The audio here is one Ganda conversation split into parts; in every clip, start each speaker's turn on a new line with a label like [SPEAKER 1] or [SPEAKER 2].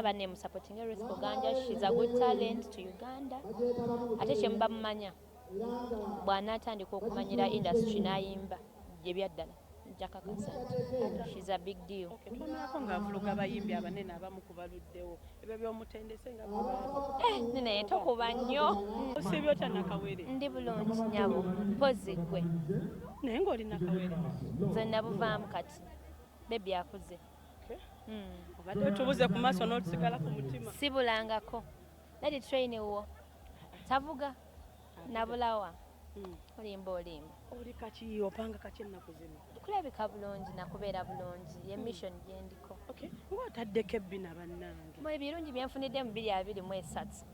[SPEAKER 1] banne musapotinge Ruth Kuganja she's a good talent to Uganda ate kyemuba mumanya bw'anaatandika okumanyira industry n'ayimba gye byaddala jakakasa nti she's a big deal tunaako ng'avuluga
[SPEAKER 2] abayimbi abanene abamu ku baluddewo ebyo by'omutendese nga eh, naye
[SPEAKER 1] tokuba nnyo osibye otya
[SPEAKER 2] nakawere ndi bulungi
[SPEAKER 1] nyabo mpozi ggwe naye ng'oli
[SPEAKER 2] nakawere nze nabuvaamu
[SPEAKER 1] kati bebi akuze
[SPEAKER 2] obadde otubuze ku maaso n'otusigala ku mutima sibulangako
[SPEAKER 1] nadi train wo tavuga nabulawa hmm. olimba olimba oli
[SPEAKER 2] kaki opanga kaki ennaku zino kulabika bulungi
[SPEAKER 1] nakubeera bulungi ye hmm. mission gyendiko nga otaddeko
[SPEAKER 2] ebbina bannange mwe ebirungi byenfunidde
[SPEAKER 1] mu biri abiri mu esatu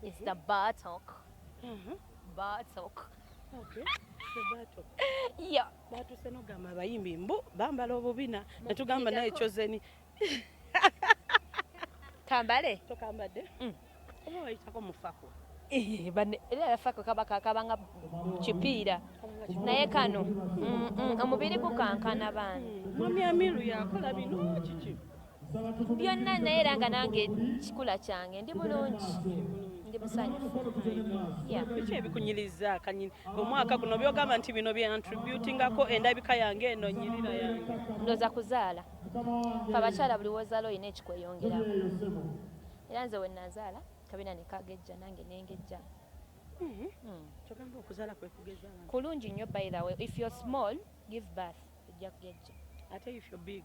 [SPEAKER 1] is the hmm. batok batok yeah batuse nogamba
[SPEAKER 2] abayimbi mbu bambala obubina netugamba naye chozeni
[SPEAKER 1] kambale tokambadde
[SPEAKER 2] mm. oba wayitako mufako eh, era
[SPEAKER 1] yafako kaba kakabanga kipiira naye kano mm, mm, omubiri gukankana baana mwami amiru
[SPEAKER 2] yakola bino kiki ku byonna
[SPEAKER 1] naye era nga nange kikula kyange ndi bulungi ndi musanyufu biki
[SPEAKER 2] ebikunyiriza kanyini omwaka guno byogamba nti bino byantributingako endabika yange eno nyirira yange ndoza kuzaala
[SPEAKER 1] fe abakyala buli wozaala olina ekikweyongerako era nze wenazaala kabina nekagejja nange nengejja mm-hmm.
[SPEAKER 2] mm. kyogamba okuzaala kwekugeza kulungi nnyo by the way
[SPEAKER 1] if you're small give birth ojja kugejja ate if you're big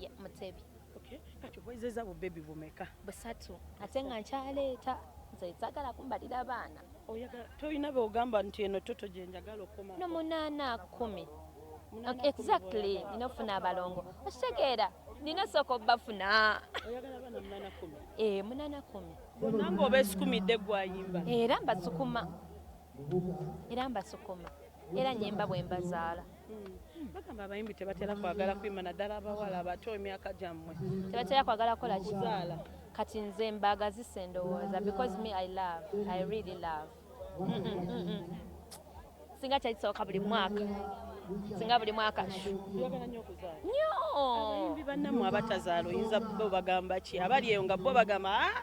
[SPEAKER 1] ye mutebi okay kati oboyizeza
[SPEAKER 2] bu baby bumeka busatu ate
[SPEAKER 1] nga nkyaleeta nze zagala kumbalira abaana oyagala toyina be
[SPEAKER 2] ogamba nti eno toto gye njagala okoma no munana
[SPEAKER 1] kumi exactly nina ofuna abalongo okitegeera nina sooka obafuna
[SPEAKER 2] eh, munana kumi bonna nga
[SPEAKER 1] obesikumidde
[SPEAKER 2] gwayimba era mbasukuma
[SPEAKER 1] era mbasukuma era nyimba bwembazaala hmm. bagamba
[SPEAKER 2] abayimbi tebatera kwagala kuyimba naddala abawala abato emyaka gyammwe tebatera kwagala kukola
[SPEAKER 1] kizaala kati nze mbaagazisa endowooza because me i love i really love singa kyali kisoboka buli mwaka singa buli mwaka nyo
[SPEAKER 2] abayimbi
[SPEAKER 1] bannamu
[SPEAKER 2] abatazaala oyinza bo bagamba ki abali eyo nga bo bagamba ah,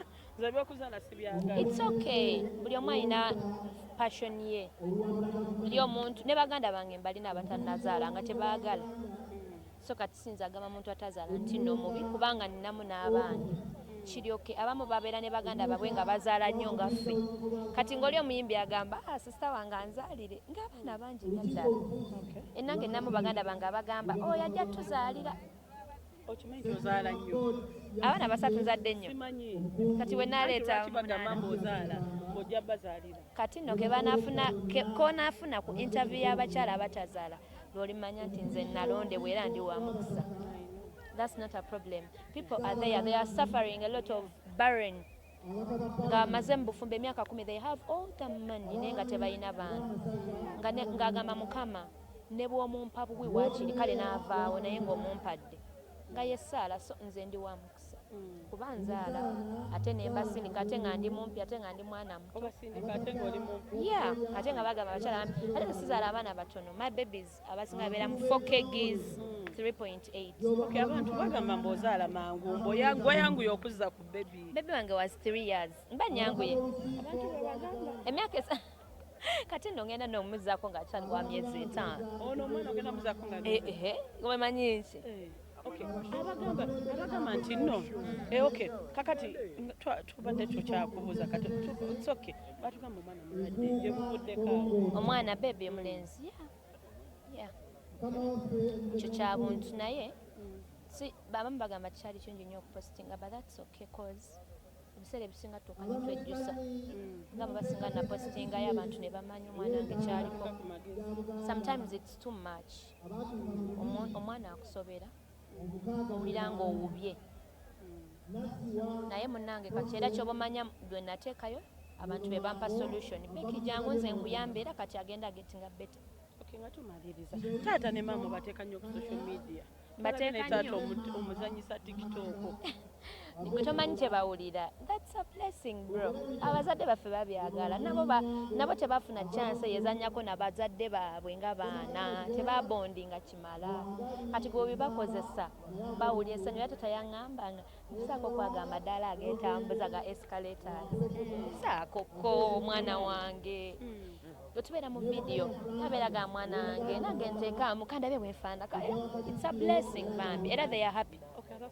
[SPEAKER 2] It's okay.
[SPEAKER 1] Buli omu alina passion ye. Buli omuntu ne baganda bange mbalina abatanazaala nga tebaagala. So kati sinza agamba muntu atazaala nti no mubi kubanga ninamu n'abaana. Kiryoke abamu babeera ne baganda babwe nga bazaala nnyo nga ffe. Kati ng'oli omuyimbi agamba ah, sisita wange anzaalire ng'abaana bangi nga ddala. Ennange nnamu baganda bange abagamba oyo oh, ajja tuzaalira. okimanyi
[SPEAKER 2] nti ozaala nnyo abaana basatu
[SPEAKER 1] nzadde nnyo kati
[SPEAKER 2] we naleeta kati nno kebanafuna
[SPEAKER 1] konaafuna ku interview y'abakyala abatazaala lwolimanya nti nze nalondebwa era ndi wamukisa that's not a problem people are there they are suffering a lot of barren nga amaze mu bufumbo emyaka kumi they have all the money naye nga tebalina baana ng'agamba mukama ne bw'omumpa buwi waakiri kale n'avaawo naye ng'omumpadde nga ye saala so nze ndi wa mukisa hmm. kuba nzaala ate ne mbasindika ate nga ndi mumpi ate nga ndi mwana muto
[SPEAKER 2] ya ate nga bagamba
[SPEAKER 1] abakyala ate nsizaala abaana batono my babies abasinga babeera mu 4 kgs 3.8 abantu bagamba
[SPEAKER 2] mbu ozaala mangu mbu wayanguye okuzza ku bebi bebi wange was 3
[SPEAKER 1] years mba nyanguye abantu
[SPEAKER 2] bebagamba emyaka esa
[SPEAKER 1] kati no ngenda nomuzako nga akyali wa myezi etaano ono omwana ogenda muzako
[SPEAKER 2] nga eh, eh, eh, omanyi
[SPEAKER 1] nki eh. abagamba
[SPEAKER 2] abagamba nti no eh, ok kakati tubadde tukyakubuuza katsoke batugamba omwana mulwadde gyebuvuddeko omwana bebi
[SPEAKER 1] omulenzi ekyo kyabuntu naye babamu bagamba tikyali kingi nyo okupostinga but thats ok cause ebiseera ebisinga tuuka netwejjusa nga babasinga napostingayo abantu nebamanya omwana nge kyaliko sometimes its too much omwana akusobera owulira nga owubye naye munange kati era kyobamanya lwe nateekayo abantu be bampa solution biki jangu nze nkuyamba era kati agenda agetinga beta nga
[SPEAKER 2] tumaliriza taata ne maama bateeka nnyo ku social media bateeka
[SPEAKER 1] nnyo omuzanyisa
[SPEAKER 2] tiktok gwe
[SPEAKER 1] tomanyi kye bawulira thats a blessing bro abazadde baffe babyagala nabo nabo tebafuna chance eyezanyako na bazadde baabwe nga baana tebabondi nga kimala kati gwe obibakozesa bawulira esanyu era tatayaŋamba nga saako kwaga amadaala agetambuza ga escalators saako ko omwana wange mm. bwetubeera mu vidiyo tabeera ga mwana wange nange nteekaamu kandabye bwefaanaka eh, it's a blessing bambi era they are happy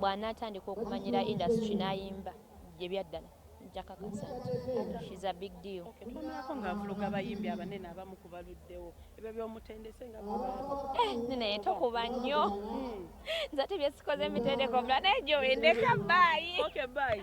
[SPEAKER 1] bw'anaatandika okumanyira industry n'ayimba bye byaddala nja kakasa nti she's a big deal. Okay, tulumyako ng'avuluga
[SPEAKER 2] abayimbi abanene abamu ku baluddewo ebyo by'omutendese nga eh, naye
[SPEAKER 1] tokuba nnyo hmm. nze ate byesikoze emitendeko omulala naye gyowendeka baayi. Okay, bye.